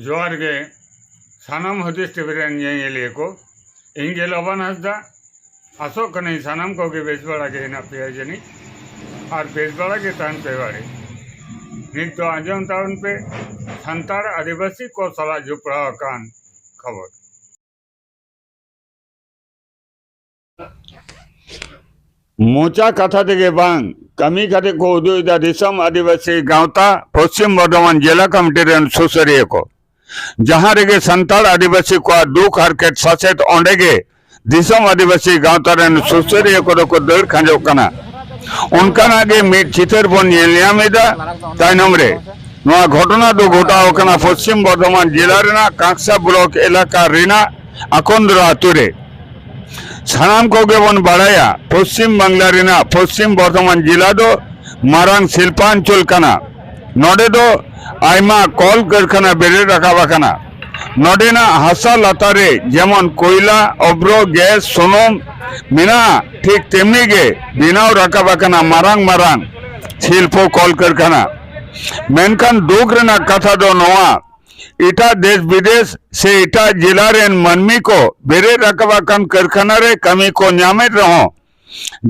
ᱡᱚᱦᱟᱨ ᱜᱮ ᱥᱟᱱᱟᱢ ᱦᱩᱫᱤᱥ ᱴᱤᱵᱷᱤ ᱨᱮᱱ ᱧᱮᱧᱮᱞᱤᱭᱟᱹ ᱠᱚ ᱤᱧ ᱜᱮ ᱞᱚᱵᱟᱱ ᱦᱟᱸᱥᱫᱟ ᱟᱥᱚᱜ ᱠᱟᱹᱱᱟᱹᱧ ᱥᱟᱱᱟᱢ ᱠᱚᱜᱮ ᱵᱮᱥ ᱵᱟᱲᱟ ᱜᱮ ᱦᱮᱱᱟᱜ ᱯᱮᱭᱟ ᱡᱟᱹᱱᱤᱡ ᱟᱨ ᱵᱮᱥ ᱵᱟᱲᱟ ᱜᱮ ᱛᱟᱦᱮᱱ ᱯᱮ ᱵᱟᱲᱮ ᱱᱤᱛ ᱫᱚ ᱟᱸᱡᱚᱢ ᱛᱟᱵᱚᱱ ᱯᱮ ᱥᱟᱱᱛᱟᱲ ᱟᱹᱫᱤᱵᱟᱹᱥᱤ ᱠᱚ ᱥᱟᱞᱟᱜ ᱡᱚᱯᱲᱟᱣ ᱟᱠᱟᱱ ᱠᱷᱚᱵᱚᱨ ᱢᱚᱪᱟ ᱠᱟᱛᱷᱟ ᱛᱮᱜᱮ ᱵᱟᱝ ᱠᱟᱹᱢᱤ ᱠᱟᱛᱮ ᱠᱚ ᱩᱫᱩᱜ ᱮᱫᱟ ᱫᱤᱥᱚᱢ ᱟᱹᱫᱤᱵᱟᱹᱥᱤ ᱜᱟᱶᱛᱟ ᱯᱚᱥᱪᱤᱢ ᱵᱚᱨᱫᱷᱚᱢᱟᱱ ᱡᱮᱞᱟ ᱠᱚᱢᱤᱴᱤ ᱨᱮᱱ ᱥᱩᱥᱟᱹᱨᱤᱭᱟᱹ ᱠᱚ ᱡᱟᱦᱟᱸ ᱨᱮᱜᱮ ᱥᱟᱱᱛᱟᱲ ᱟᱹᱫᱤᱵᱟᱹᱥᱤ ᱠᱚᱣᱟᱜ ᱫᱩᱠ ᱦᱟᱨᱠᱮᱛ ᱥᱟᱥᱮᱛ ᱚᱸᱰᱮ ᱜᱮ ᱫᱤᱥᱚᱢ ᱟᱹᱫᱤᱵᱟᱹᱥᱤ ᱜᱟᱶᱛᱟ ᱨᱮᱱ ᱥᱩᱥᱟᱹᱨᱤᱭᱟᱹ ᱠᱚᱫᱚ ᱠᱚ ᱫᱟᱹᱲ ᱠᱷᱟᱸᱡᱚᱜ ᱠᱟᱱᱟ ᱚᱱᱠᱟᱱᱟᱜ ᱜᱮ ᱢᱤᱫ ᱪᱤᱛᱟᱹᱨ ᱵᱚᱱ ᱧᱮᱞ ᱧᱟᱢ ᱮᱫᱟ ᱛᱟᱭᱱᱚᱢ ᱨᱮ ᱱᱚᱣᱟ ᱜᱷᱚᱴᱚᱱᱟ ᱫᱚ ᱜᱷᱚᱴᱟᱣ ᱟᱠᱟᱱᱟ ᱯᱚᱥᱪᱤᱢ ᱵᱚᱨᱫᱷᱚᱢᱟᱱ ᱡᱮᱞᱟ ᱨᱮᱱᱟᱜ ᱠᱟᱸᱠᱥᱟ ᱵᱞᱚᱠ ᱮᱞᱟᱠᱟ ᱨᱮᱱᱟᱜ ᱟᱠᱚᱱᱫᱨᱚ ᱟᱹᱛᱩ ᱨᱮ ᱥᱟᱱᱟᱢ ᱠᱚᱜᱮ ᱵᱚᱱ ᱵᱟᱲᱟᱭᱟ ᱯᱚᱥᱪᱤᱢ ᱵᱟᱝᱞᱟ ᱨᱮᱱᱟᱜ ᱯᱚᱥᱪᱤᱢ ᱵᱚᱨᱫᱷᱚᱢᱟᱱ ᱡᱮᱞᱟ ᱫᱚ ᱢᱟᱨᱟᱝ ᱥᱤᱞᱯᱟᱧᱪᱚᱞ ᱠᱟᱱᱟ ᱱᱚᱰᱮ ᱫᱚ ᱟᱭᱢᱟ ᱠᱚᱞ ᱠᱟᱹᱨᱠᱷᱟᱱᱟ ᱵᱮᱨᱮᱫ ᱨᱟᱠᱟᱵ ᱟᱠᱟᱱᱟ ᱱᱚᱰᱮᱱᱟᱜ ᱦᱟᱥᱟ ᱞᱟᱛᱟᱨ ᱨᱮ ᱡᱮᱢᱚᱱ ᱠᱚᱭᱞᱟ ᱚᱵᱽᱨᱚ ᱜᱮᱥ ᱥᱩᱱᱩᱢ ᱢᱮᱱᱟᱜᱼᱟ ᱴᱷᱤᱠ ᱛᱮᱢᱱᱤ ᱜᱮ ᱵᱮᱱᱟᱣ ᱨᱟᱠᱟᱵ ᱟᱠᱟᱱᱟ ᱢᱟᱨᱟᱝ ᱢᱟᱨᱟᱝ ᱥᱤᱞᱯᱚ ᱠᱚᱞ ᱠᱟᱹᱨᱠᱷᱟᱱᱟ ᱢᱮᱱᱠᱷᱟᱱ ᱫᱩᱠ ᱨᱮᱱᱟᱜ ᱠᱟᱛᱷᱟ ᱫᱚ ᱱᱚᱣᱟ ᱮᱴᱟᱜ ᱫᱮᱥ ᱵᱤᱫᱮᱥ ᱥᱮ ᱮᱴᱟᱜ ᱡᱮᱞᱟ ᱨᱮᱱ ᱢᱟᱹᱱᱢᱤ ᱠᱚ ᱵᱮᱨᱮᱫ ᱨᱟᱠᱟᱵ ᱟᱠᱟᱱ ᱠᱟᱹᱨᱠᱷᱟᱱᱟ ᱨᱮ ᱠᱟᱹᱢᱤ ᱠᱚ ᱧᱟᱢᱮᱫ ᱨᱮᱦᱚᱸ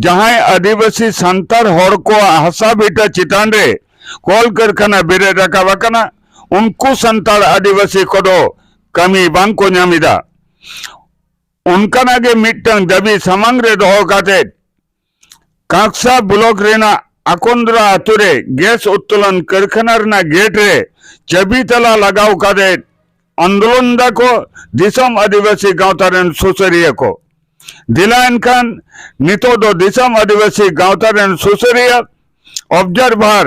ᱡᱟᱦᱟᱸᱭ ᱟᱹᱫᱤᱵᱟᱹᱥᱤ ᱥᱟᱱᱛᱟᱲ ᱦᱚᱲ ᱠᱚᱣᱟᱜ ᱦᱟᱥᱟ ᱵᱷᱤᱴᱟᱹ ᱪᱮᱛᱟᱱ ᱨᱮ ᱠᱚᱞ ᱠᱟᱹᱨᱠᱷᱟᱱᱟ ᱵᱮᱨᱮᱫ ᱨᱟᱠᱟᱵ ᱟᱠᱟᱱᱟ ᱩᱱᱠᱩ ᱥᱟᱱᱛᱟᱲ ᱟᱹᱫᱤᱵᱟᱹᱥᱤ ᱠᱚᱫᱚ ᱠᱟᱹᱢᱤ ᱵᱟᱝ ᱠᱚ ᱧᱟᱢ ᱮᱫᱟ ᱚᱱᱠᱟᱱᱟᱜ ᱜᱮ ᱢᱤᱫᱴᱟᱝ ᱫᱟᱹᱵᱤ ᱥᱟᱢᱟᱝ ᱨᱮ ᱫᱚᱦᱚ ᱠᱟᱛᱮᱫ ᱠᱟᱠᱥᱟ ᱵᱞᱚᱠ ᱨᱮᱱᱟᱜ ᱟᱠᱚᱱᱫᱽᱨᱟ ᱟᱹᱛᱩ ᱨᱮ ᱜᱮᱥ ᱩᱛᱛᱳᱞᱚᱱ ᱠᱟᱹᱨᱠᱷᱟᱱᱟ ᱨᱮᱱᱟᱜ ᱜᱮᱴ ᱨᱮ ᱪᱟᱹᱵᱤ ᱛᱟᱞᱟ ᱞᱟᱜᱟᱣ ᱠᱟᱛᱮ ᱟᱱᱫᱳᱞᱚᱱ ᱮᱫᱟ ᱠᱚ ᱫᱤᱥᱚᱢ ᱟᱹᱫᱤᱵᱟᱹᱥᱤ ᱜᱟᱶᱛᱟ ᱨᱮᱱ ᱥᱩᱥᱟᱹᱨᱤᱭᱟᱹ ᱠᱚ᱾ ᱫᱮᱞᱟ ᱮᱱᱠᱷᱟᱱ ᱱᱤᱛᱚᱜ ᱫᱚ ᱫᱤᱥᱚᱢ ᱟᱹᱫᱤᱵᱟᱹᱥᱤ ᱜᱟᱶᱛᱟ ᱨᱮᱱ ᱥᱩᱥᱟᱹᱨᱤᱭᱟᱹ ᱚᱵᱽᱡᱟᱨᱵᱷᱟᱨ᱾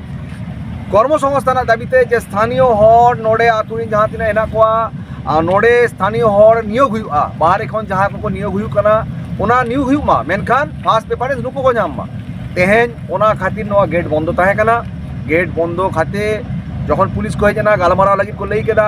ᱠᱚᱨᱢᱚᱥᱚᱝᱥᱛᱷᱟᱱ ᱨᱮᱱᱟᱜ ᱫᱟᱹᱵᱤᱛᱮ ᱡᱮ ᱥᱛᱷᱟᱱᱤᱭᱚ ᱦᱚᱲ ᱱᱚᱰᱮ ᱟᱛᱳ ᱨᱮᱱ ᱡᱟᱦᱟᱸ ᱛᱤᱱᱟᱹᱜ ᱦᱮᱱᱟᱜ ᱠᱚᱣᱟ ᱟᱨ ᱱᱚᱰᱮ ᱥᱛᱷᱟᱱᱤᱭᱚ ᱦᱚᱲ ᱱᱤᱭᱳᱜᱽ ᱦᱩᱭᱩᱜᱼᱟ ᱵᱟᱦᱨᱮ ᱠᱷᱚᱱ ᱡᱟᱦᱟᱸᱭ ᱠᱚᱠᱚ ᱱᱤᱭᱳᱜᱽ ᱦᱩᱭᱩᱜ ᱠᱟᱱᱟ ᱚᱱᱟ ᱱᱤᱭᱳᱜᱽ ᱦᱩᱭᱩᱜ ᱢᱟ ᱢᱮᱱᱠᱷᱟᱱ ᱯᱷᱟᱥᱴ ᱯᱨᱮᱯᱷᱟᱨᱮᱱᱥ ᱱᱩᱠᱩ ᱠᱚ ᱧᱟᱢ ᱢᱟ ᱛᱮᱦᱮᱧ ᱚᱱᱟ ᱠᱷᱟᱹᱛᱤᱨ ᱱᱚᱣᱟ ᱜᱮᱴ ᱵᱚᱱᱫᱚ ᱛᱟᱦᱮᱸ ᱠᱟᱱᱟ ᱜᱮᱴ ᱵᱚᱱᱫᱚ ᱠᱟᱛᱮ ᱡᱚᱠᱷᱚᱱ ᱯᱩᱞᱤᱥ ᱠᱚ ᱦᱮᱡ ᱮᱱᱟ ᱜᱟᱞᱢᱟᱨᱟᱣ ᱞᱟᱹᱜᱤᱫ ᱠᱚ ᱞᱟᱹᱭ ᱠᱮᱫᱟ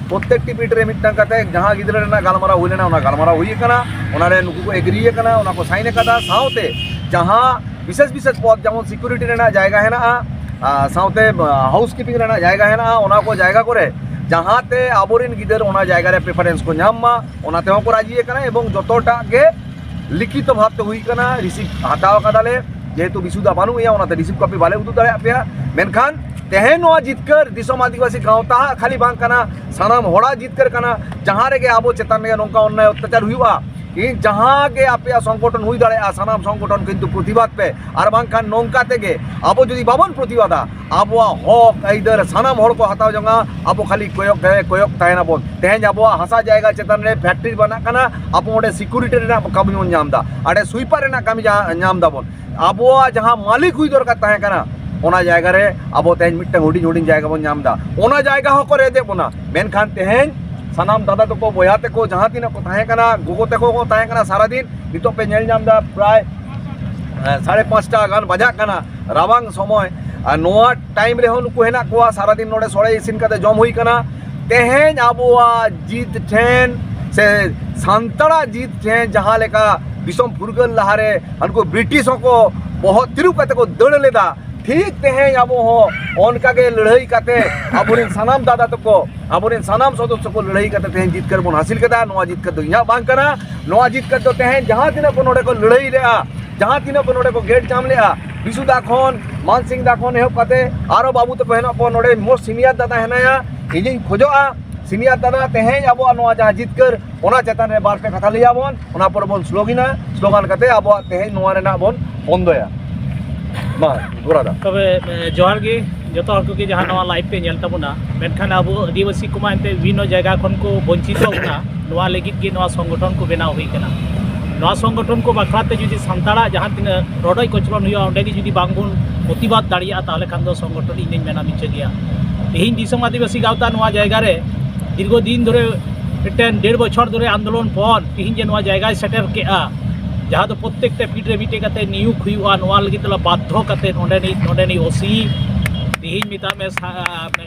ᱯᱨᱚᱛᱮᱠᱴᱤ ᱵᱤᱴ ᱨᱮ ᱢᱤᱫᱴᱟᱝ ᱠᱟᱛᱮ ᱡᱟᱦᱟᱸ ᱜᱤᱫᱽᱨᱟᱹ ᱨᱮᱱᱟᱜ ᱜᱟᱞᱢᱟᱨᱟᱣ ᱦᱩᱭ ᱞᱮᱱᱟ ᱚᱱᱟ ᱜᱟᱞᱢᱟᱨᱟᱣ ᱦᱩᱭ ᱟᱠᱟᱱᱟ ᱚᱱᱟ ᱨᱮ ᱱᱩᱠᱩ ᱠᱚ ᱮᱜᱽᱨᱤ ᱟᱠᱟᱱᱟ ᱚᱱᱟ ᱠᱚ ᱥᱟᱭᱤᱱ ᱟᱠᱟᱫᱟ ᱥᱟᱶᱛᱮ ᱡᱟᱦᱟᱸ ᱵᱤᱥᱮᱥ ᱵᱤᱥᱮᱥ ᱯᱚᱫ ᱡᱮᱢᱚᱱ ᱥᱤᱠᱩᱨᱤᱴᱤ ᱨᱮᱱᱟᱜ ᱡᱟᱭᱜᱟ ᱦᱮᱱᱟᱜᱼᱟ ᱥᱟᱶᱛᱮ ᱦᱟᱣᱩᱥ ᱠᱤᱯᱤᱝ ᱨᱮᱱᱟᱜ ᱡᱟᱭᱜᱟ ᱦᱮᱱᱟᱜᱼᱟ ᱚᱱᱟ ᱠᱚ ᱡᱟᱭᱜᱟ ᱠᱚᱨᱮ ᱡᱟᱦᱟᱸᱛᱮ ᱟᱵᱚᱨᱮᱱ ᱜᱤᱫᱟᱹᱨ ᱚᱱᱟ ᱡᱟᱭᱜᱟ ᱨᱮ ᱯᱨᱮᱯᱷᱟᱨᱮᱱᱥ ᱠᱚ ᱧᱟᱢ ᱢᱟ ᱚᱱᱟ ᱛᱮᱦᱚᱸ ᱠᱚ ᱨᱟᱡᱤ ᱟᱠᱟᱱᱟ ᱮᱵᱚᱝ ᱡᱚᱛᱚᱴᱟᱜ ᱜᱮ ᱞᱤᱠᱷᱤᱛ ᱵᱷᱟᱵ ᱛᱮ ᱦᱩᱭ ᱠᱟᱱᱟ ᱨᱤᱥᱤᱵ ᱦᱟᱛᱟᱣ ᱠᱟᱫᱟᱞᱮ ᱡᱮᱦᱮᱛᱩ ᱵᱤᱥᱩᱫᱟ ᱵᱟᱹᱱᱩᱜ ᱮᱭᱟ ᱚᱱᱟᱛᱮ ᱨᱤᱥᱤᱵ ᱠᱚᱯᱤ ᱵᱟᱞᱮ ᱩᱫᱩᱜ ᱫᱟᱲᱮᱭᱟᱜ ᱯᱮᱭᱟ ᱢᱮᱱᱠᱷᱟᱱ ᱛᱮᱦᱮᱧ ᱱᱚᱣᱟ ᱡᱤᱛᱠᱟᱹᱨ ᱫᱤᱥᱚᱢ ᱟᱹᱫᱤᱵᱟᱹᱥᱤ ᱜᱟᱶᱛᱟ ᱠᱷᱟᱹᱞᱤ ᱵᱟᱝ ᱠᱟᱱᱟ ᱥᱟᱱᱟᱢ ᱦᱚᱲᱟᱜ ᱡᱤᱛᱠᱟᱹᱨ ᱠᱟᱱᱟ ᱡᱟᱦᱟᱸ ᱨᱮᱜᱮ ᱟᱵᱚ ᱪᱮᱛᱟᱱ ᱨᱮ ᱱᱚᱝᱠᱟ ᱚᱱᱱᱟᱭ ᱚᱛᱛᱟᱪᱟᱨ ᱦᱩᱭᱩᱜᱼᱟ ᱤᱧ ᱡᱟᱦᱟᱸ ᱜᱮ ᱟᱯᱮᱭᱟᱜ ᱥᱚᱝᱜᱚᱴᱷᱚᱱ ᱦᱩᱭ ᱫᱟᱲᱮᱭᱟᱜᱼᱟ ᱥᱟᱱᱟᱢ ᱥᱚᱝᱜᱚᱴᱷᱚᱱ ᱠᱤᱱᱛᱩ ᱯᱨᱚᱛᱤᱵᱟᱫ ᱯᱮ ᱟᱨ ᱵᱟᱝᱠᱷᱟᱱ ᱱᱚᱝᱠᱟ ᱛᱮᱜᱮ ᱟᱵᱚ ᱡᱩᱫᱤ ᱵᱟᱵᱚᱱ ᱯᱨᱚᱛᱤᱵᱟᱫᱟ ᱟᱵᱚᱣᱟᱜ ᱦᱚᱠ ᱟᱹᱭᱫᱟᱹᱨ ᱥᱟᱱᱟᱢ ᱦᱚᱲ ᱠᱚ ᱦᱟᱛᱟᱣ ᱡᱚᱝᱟ ᱟᱵᱚ ᱠᱷᱟᱹᱞᱤ ᱠᱚᱭᱚᱜ ᱠᱚᱭᱚᱜ ᱛᱟᱦᱮᱱᱟ ᱵᱚᱱ ᱛᱮᱦᱮᱧ ᱟᱵᱚᱣᱟᱜ ᱦᱟᱥᱟ ᱡᱟᱭᱜᱟ ᱪᱮᱛᱟᱱ ᱨᱮ ᱯᱷᱮᱠᱴᱨᱤ ᱵᱟᱱᱟᱜ ᱠᱟᱱᱟ ᱟᱵᱚ ᱚᱸᱰᱮ ᱥᱤᱠᱩᱨᱤᱴᱤ ᱨᱮᱱᱟᱜ ᱠᱟᱹᱢᱤ ᱵᱚᱱ ᱧᱟᱢ ᱮᱫᱟ ᱟᱸᱰᱮ ᱥᱩᱭᱯᱟᱨ ᱨᱮᱱᱟᱜ ᱠᱟᱹᱢᱤ ᱧᱟᱢ ᱫᱟᱵᱚᱱ ᱟᱵᱚᱣᱟᱜ ᱡᱟᱦᱟᱸ ᱢᱟᱹᱞᱤᱠ ᱦᱩᱭ ᱫᱚᱨᱠᱟᱨ ᱛᱟᱦᱮᱸ ᱠᱟᱱᱟ ᱚᱱᱟ ᱡᱟᱭᱜᱟ ᱨᱮ ᱟᱵᱚ ᱛᱮᱦᱮᱧ ᱢᱤᱫᱴᱟᱝ ᱦᱩᱰᱤᱧ ᱦᱩᱰᱤᱧ ᱡᱟᱭᱜᱟ ᱵᱚᱱ ᱧᱟᱢ ᱮᱫᱟ ᱚᱱᱟ ᱡᱟᱭᱜᱟ ᱦᱚᱸᱠᱚ ᱨᱮᱡᱮᱫ ᱵᱚᱱᱟ ᱢᱮᱱᱠᱷᱟᱱ ᱛᱮᱦᱮᱧ ᱥᱟᱱᱟᱢ ᱫᱟᱫᱟ ᱛᱟᱠᱚ ᱵᱚᱭᱦᱟ ᱛᱟᱠᱚ ᱡᱟᱦᱟᱸ ᱛᱤᱱᱟᱹᱜ ᱠᱚ ᱛᱟᱦᱮᱸ ᱠᱟᱱᱟ ᱜᱚᱜᱚ ᱛᱟᱠᱚ ᱠᱚ ᱛᱟᱦᱮᱸ ᱠᱟᱱᱟ ᱥᱟᱨᱟᱫᱤᱱ ᱱᱤᱛᱚᱜ ᱯᱮ ᱧᱮᱞ ᱧᱟᱢ ᱮᱫᱟ ᱯᱨᱟᱭ ᱥᱟᱲᱮ ᱯᱟᱸᱪᱴᱟ ᱜᱟᱱ ᱵᱟᱡᱟᱜ ᱠᱟᱱᱟ ᱨᱟᱵᱟᱝ ᱥᱚᱢᱚᱭ ᱟᱨ ᱱᱚᱣᱟ ᱴᱟᱭᱤᱢ ᱨᱮᱦᱚᱸ ᱱᱩᱠᱩ ᱦᱮᱱᱟᱜ ᱠᱚᱣᱟ ᱥᱟᱨᱟᱫᱤᱱ ᱱᱚᱰᱮ ᱥᱚᱲᱮ ᱤᱥᱤᱱ ᱠᱟᱛᱮ ᱡᱚᱢ ᱦᱩᱭ ᱠᱟᱱᱟ ᱛᱮᱦᱮᱧ ᱟᱵᱚᱣᱟᱜ ᱡᱤᱛ ᱴᱷᱮᱱ ᱥᱮ ᱥᱟᱱᱛᱟᱲᱟᱜ ᱡᱤᱛ ᱴᱷᱮᱱ ᱡᱟᱦᱟᱸ ᱞᱮᱠᱟ ᱫᱤᱥᱚᱢ ᱯᱷᱩᱨᱜᱟᱹᱞ ᱞᱟᱦᱟᱨᱮ ᱩᱱᱠᱩ ᱵᱨᱤᱴᱤᱥ ᱦᱚᱸᱠᱚ ᱵᱚᱦᱚᱜ ᱛᱤᱨᱩᱵ ᱠᱟᱛᱮ ᱠᱚ ᱫᱟᱹᱲ ᱞᱮᱫᱟ ᱴᱷᱤᱠ ᱛᱮᱦᱮᱧ ᱟᱵᱚ ᱦᱚᱸ ᱚᱱᱠᱟ ᱜᱮ ᱞᱟᱹᱲᱦᱟᱹᱭ ᱠᱟᱛᱮ ᱟᱵᱚᱨᱮᱱ ᱥᱟᱱᱟᱢ ᱫᱟᱫᱟ ᱛᱟᱠᱚ ᱟᱵᱚᱨᱮᱱ ᱥᱟᱱᱟᱢ ᱥᱚᱫᱚᱥᱥᱚ ᱠᱚ ᱞᱟᱹᱲᱦᱟᱹᱭ ᱠᱟᱛᱮ ᱛᱮᱦᱮᱧ ᱡᱤᱛᱠᱟᱹᱨ ᱵᱚᱱ ᱦᱟᱹᱥᱤᱞ ᱠᱮᱫᱟ ᱱᱚᱣᱟ ᱡᱤᱛᱠᱟᱹᱨ ᱫᱚ ᱤᱧᱟᱹᱜ ᱵᱟᱝ ᱠᱟᱱᱟ ᱱᱚᱣᱟ ᱡᱤᱛᱠᱟᱹᱨ ᱫᱚ ᱛᱮᱦᱮᱧ ᱡᱟᱦᱟᱸ ᱛᱤᱱᱟᱹᱜ ᱠᱚ ᱱᱚᱰᱮ ᱠᱚ ᱞᱟᱹᱲᱦᱟᱹᱭ ᱞᱮᱫᱼᱟ ᱡᱟᱦᱟᱸ ᱛᱤᱱᱟᱹᱜ ᱠᱚ ᱱᱚᱰᱮ ᱠᱚ ᱜᱮᱴ ᱡᱟᱢ ᱞᱮᱜᱼᱟ ᱵᱤᱥᱩ ᱫᱟ ᱠᱷᱚᱱ ᱢᱟᱱ ᱥᱤᱝ ᱫᱟ ᱠᱷᱚᱱ ᱮᱦᱚᱵ ᱠᱟᱛᱮ ᱟᱨᱚ ᱵᱟᱹᱵᱩ ᱛᱟᱠᱚ ᱦᱮᱱᱟᱜ ᱠᱚᱣᱟ ᱱᱚᱰᱮ ᱢᱳᱥᱴ ᱥᱤᱱᱤᱭᱟᱨ ᱫᱟᱫᱟ ᱦᱮᱱᱟᱭᱟ ᱤᱧᱤᱧ ᱠᱷᱚᱡᱚᱜᱼᱟ ᱥᱤᱱᱤᱭᱟᱨ ᱫᱟᱫᱟ ᱛᱮᱦᱮᱧ ᱟᱵᱚᱣᱟᱜ ᱱᱚᱣᱟ ᱡᱟᱦᱟᱸ ᱡᱤᱛᱠᱟᱹᱨ ᱚᱱᱟ ᱪᱮᱛᱟᱱ ᱨᱮ ᱵᱟᱨ ᱯᱮ ᱠᱟᱛᱷᱟ ᱞᱟᱹᱭᱟᱵᱚᱱ ᱚᱱᱟ ᱯᱚᱨᱮ ᱵᱚᱱ ᱥᱞᱳᱜᱤᱱᱟ ᱥᱞᱳᱜᱟᱱ ᱠᱟᱛᱮ ᱟᱵᱚᱣᱟᱜ ᱛᱮᱦᱮᱧ ᱱᱚᱣᱟ ᱨᱮᱱᱟᱜ ᱵᱚᱱ ᱵᱚᱱᱫᱚᱭᱟ ᱢᱟ ᱜᱚᱲᱟᱫᱟ ᱛᱚᱵᱮ ᱡᱚᱦᱟᱨ ᱜᱮ ᱡᱚᱛᱚ ᱦᱚᱲ ᱠᱚᱜᱮ ᱡᱟᱦᱟᱸ ᱱᱚᱣᱟ ᱞᱟᱭᱤᱵᱷ ᱯᱮ ᱧᱮᱞ ᱛᱟᱵᱚᱱᱟ ᱢᱮᱱᱠᱷᱟᱱ ᱟᱵᱚ ᱟᱹᱫᱤᱵᱟᱹᱥᱤ ᱠᱚᱢᱟ ᱮᱱᱛᱮ ᱵᱤᱵᱷᱤᱱᱱᱚ ᱡᱟᱭᱜᱟ ᱠᱷᱚᱱ ᱠᱚ ᱵᱚᱧᱪᱤᱛᱚ ᱵᱚᱱᱟ ᱱᱚᱣᱟ ᱞᱟᱹᱜᱤᱫ ᱜᱮ ᱱᱚᱣᱟ ᱥᱚᱝᱜᱚᱴᱷᱚᱱ ᱠᱚ ᱵᱮᱱᱟᱣ ᱦᱩᱭ ᱠᱟᱱᱟ ᱱᱚᱣᱟ ᱥᱚᱝᱜᱚᱴᱷᱚᱱ ᱠᱚ ᱵᱟᱠᱷᱨᱟ ᱛᱮ ᱡᱩᱫᱤ ᱥᱟᱱᱛᱟᱲᱟᱜ ᱡᱟᱦᱟᱸ ᱛᱤᱱᱟᱹᱜ ᱨᱚᱰᱚᱡ ᱠᱚᱪᱞᱚᱱ ᱦᱩᱭᱩᱜᱼᱟ ᱚᱸᱰᱮ ᱜᱮ ᱡᱩᱫᱤ ᱵᱟᱝ ᱵᱚᱱ ᱯᱨᱚᱛᱤᱵᱟᱫ ᱫᱟᱲᱮᱭᱟᱜᱼᱟ ᱛᱟᱦᱚᱞᱮ ᱠᱷᱟᱱ ᱫᱚ ᱥᱚᱝᱜᱚᱴᱷᱚᱱ ᱤᱧ ᱢᱮᱱᱟ ᱢᱤᱪᱟᱹ ᱜᱮᱭᱟ ᱛᱮᱦᱮᱧ ᱫᱤᱥᱚᱢ ᱟᱹᱫᱤᱵᱟᱹᱥᱤ ᱜᱟᱶᱛᱟ ᱱᱚᱣᱟ ᱡᱟᱭᱜᱟ ᱨᱮ ᱫᱤᱨᱜᱷᱚ ᱫᱤᱱ ᱫᱷᱚᱨᱮ ᱢᱤᱫᱴᱮᱱ ᱰᱮᱲ ᱵᱚᱪᱷᱚᱨ ᱫᱷᱚᱨᱮ ᱟᱱᱫᱳᱞᱚᱱ ᱯᱚᱨ ᱛᱮᱦᱮᱧ ᱡᱮ ᱱᱚᱣᱟ ᱡᱟᱭᱜᱟᱭ ᱥᱮᱴᱮᱨ ᱠᱮᱜᱼᱟ ᱡᱟᱦᱟᱸ ᱫᱚ ᱯᱨᱚᱛᱮᱠᱴᱟ ᱯᱤᱲ ᱨᱮ ᱢᱤᱫᱴᱮᱡ ᱠᱟᱛᱮ ᱱᱤᱭᱩᱠ ᱦᱩᱭᱩᱜᱼᱟ ᱱᱚᱣᱟ ᱞᱟᱹᱜᱤᱫ ᱛᱮᱞᱮ ᱵᱟᱫᱽᱫᱷᱚ ᱠᱟᱛᱮ ᱱᱚᱰᱮᱱᱤᱡ ᱱᱚᱰᱮᱱᱤᱡ ᱳᱥᱤ ᱛᱮᱦᱮᱧ ᱢᱮᱛᱟᱜ ᱢᱮ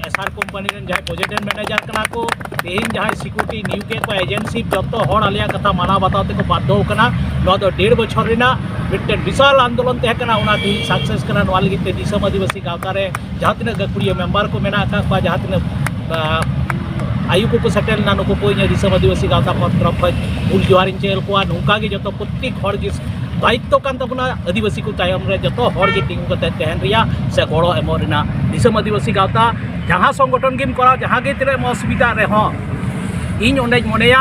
ᱮᱥᱟᱨ ᱠᱳᱢᱯᱟᱱᱤ ᱨᱮᱱ ᱡᱟᱦᱟᱸᱭ ᱯᱨᱚᱡᱮᱠᱴ ᱢᱮᱱᱮᱡᱟᱨ ᱠᱟᱱᱟ ᱠᱚ ᱛᱮᱦᱮᱧ ᱡᱟᱦᱟᱸᱭ ᱥᱤᱠᱩᱨᱤᱴᱤ ᱱᱤᱭᱩᱠ ᱠᱮᱫ ᱠᱚᱣᱟ ᱮᱡᱮᱱᱥᱤ ᱡᱚᱛᱚ ᱦᱚᱲ ᱟᱞᱮᱭᱟᱜ ᱠᱟᱛᱷᱟ ᱢᱟᱱᱟᱣ ᱵᱟᱛᱟᱣ ᱛᱮᱠᱚ ᱵᱟᱫᱽᱫᱷᱚ ᱠᱟᱱᱟ ᱱᱚᱣᱟ ᱫᱚ ᱰᱮᱲ ᱵᱚᱪᱷᱚᱨ ᱨᱮᱱᱟᱜ ᱢᱤᱫᱴᱮᱱ ᱵᱤᱥᱟᱞ ᱟᱱᱫᱳᱞᱚᱱ ᱛᱟᱦᱮᱸ ᱠᱟᱱᱟ ᱚᱱᱟ ᱛᱮᱦᱮᱧ ᱥᱟᱠᱥᱮᱥ ᱠᱟᱱᱟ ᱱᱚᱣᱟ ᱞᱟᱹᱜᱤᱫ ᱛᱮ ᱫᱤᱥᱚᱢ ᱟᱹᱫᱤᱵᱟᱹᱥᱤ ᱜᱟᱶᱛᱟ ᱨᱮ ᱡᱟᱦᱟᱸ ᱛᱤᱱᱟᱹᱜ ᱜᱟᱹᱠᱷᱩᱲᱤᱭᱟᱹ ᱢᱮᱢᱵᱟᱨ ᱠᱚ ᱢᱮᱱᱟᱜ ᱟᱠᱟᱫ ᱠᱚᱣᱟ ᱡᱟᱦᱟᱸ ᱛᱤᱱᱟᱹᱜ ᱟᱭᱩ ᱠᱚᱠᱚ ᱥᱮᱴᱮᱨ ᱞᱮᱱᱟ ᱱᱩᱠᱩ ᱠᱚ ᱤᱧ ᱫᱤᱥᱚᱢ ᱟᱹᱫᱤᱵᱟᱹᱥᱤ ᱜᱟᱶᱛᱟ ᱯᱚᱱᱚᱛ ᱛᱚᱨᱚᱯ ᱠᱷᱚᱱ ᱩᱞ ᱡᱚᱦᱟᱨᱤᱧ ᱪᱮᱫ ᱟᱠᱚᱣᱟ ᱱᱚᱝᱠᱟ ᱜᱮ ᱡᱚᱛᱚ ᱯᱨᱚᱛᱮᱠ ᱦᱚᱲ ᱜᱮ ᱫᱟᱭᱤᱛᱛᱚ ᱠᱟᱱ ᱛᱟᱵᱚᱱᱟ ᱟᱹᱫᱤᱵᱟᱹᱥᱤ ᱠᱚ ᱛᱟᱭᱚᱢ ᱨᱮ ᱡᱚᱛᱚ ᱦᱚᱲ ᱜᱮ ᱛᱤᱸᱜᱩ ᱠᱟᱛᱮ ᱛᱟᱦᱮᱱ ᱨᱮᱭᱟᱜ ᱥᱮ ᱜᱚᱲᱚ ᱮᱢᱚᱜ ᱨᱮᱱᱟᱜ ᱫᱤᱥᱚᱢ ᱟᱹᱫᱤᱵᱟᱹᱥᱤ ᱜᱟᱶᱛᱟ ᱡᱟᱦᱟᱸ ᱥᱚᱝᱜᱚᱴᱷᱚᱱ ᱜᱮᱢ ᱠᱚᱨᱟᱣ ᱡᱟᱦᱟᱸ ᱜᱮ ᱛᱤᱱᱟᱹᱜ ᱮᱢ ᱚᱥᱩᱵᱤᱫᱷᱟᱜ ᱨᱮᱦᱚᱸ ᱤᱧ ᱚᱸᱰᱮᱧ ᱢᱚᱱᱮᱭᱟ